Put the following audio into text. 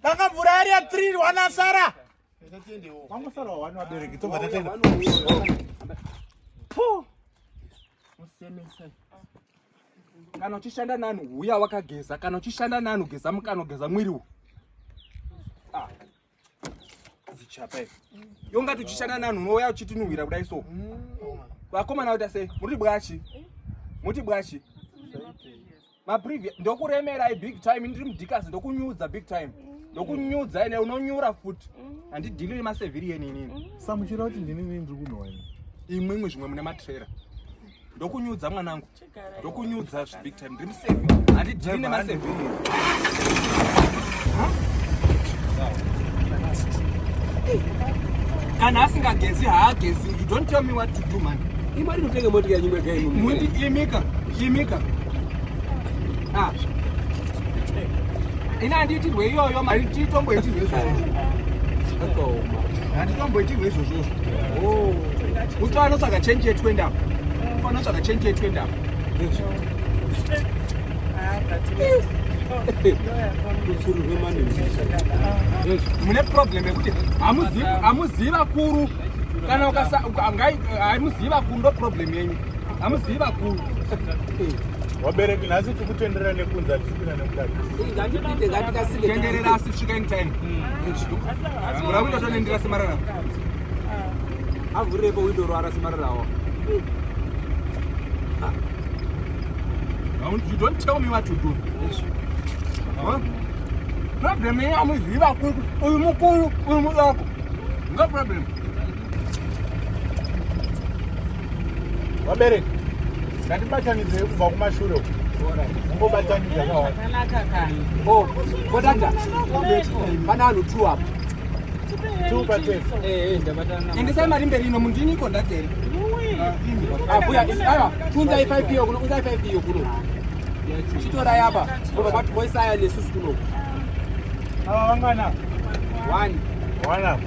Danga mvura yari ya 3 wana sara. Wangu sara wani wabereki tobva tatenda. Puu. Musemesa. Kana uchishanda nani huya wakageza kana uchishanda nani ugeza mukano geza mwiri uyu. Ah. Zichapa iwe. Yonga tuchishana nanhu unouya uchitinhuhwira kudai so. Vakomana uta sei? Muri bwachi. Muti bwachi. Ma previous ndokuremerai big time ndiri mudikasi ndokunyudza big time. Ndokunyudza ene unonyura futi. Handidili nema civilian inini. Samuchira kuti ndini nini ndiri kunhowa ini. Imwe imwe zvimwe mune matrera. Ndokunyudza mwanangu. ndokunyudza zvibig time ndiri museve handidhiri nemaseve kana asingagezi haagezi you don't tell me what to do man imari notenge motika nyimwe gaimika imika ah. ini handiitirwe iyoyo handitomboitirwe izvozvo handitomboitirwe izvozvozvo oh. uto anotsvaga chenji yetwenda uto anotsvaga chenji yetwenda mune problem yekuti hamuzivi vakuru kana hamuzivi vakuru ndo problem yenyu Hamuzivi vakuru. Wabereki nhasi tikutenderera nekunza tichipinda nemukati. Ngatipinde ngatikasike. Tenderera asi svika in time. Mura window tonendera semarara. Avhurepo window roara semararawo. You don't tell me what to do. Yes. Huh? Problem yenyu amuzivi vakuru. Uyu mukuru, uyu mudoko. No problem. vabereki ngatibatanidzei kubva kumashure uku ungobatanidza kodada pana anhu two apo endesai mari mberi ino mundini iko ndateri abuya aiwa tunzai five iyo kuno unzai five iyo kuno chitorai apa obva kwati boisaya nesusu kuno ava vangana one one apo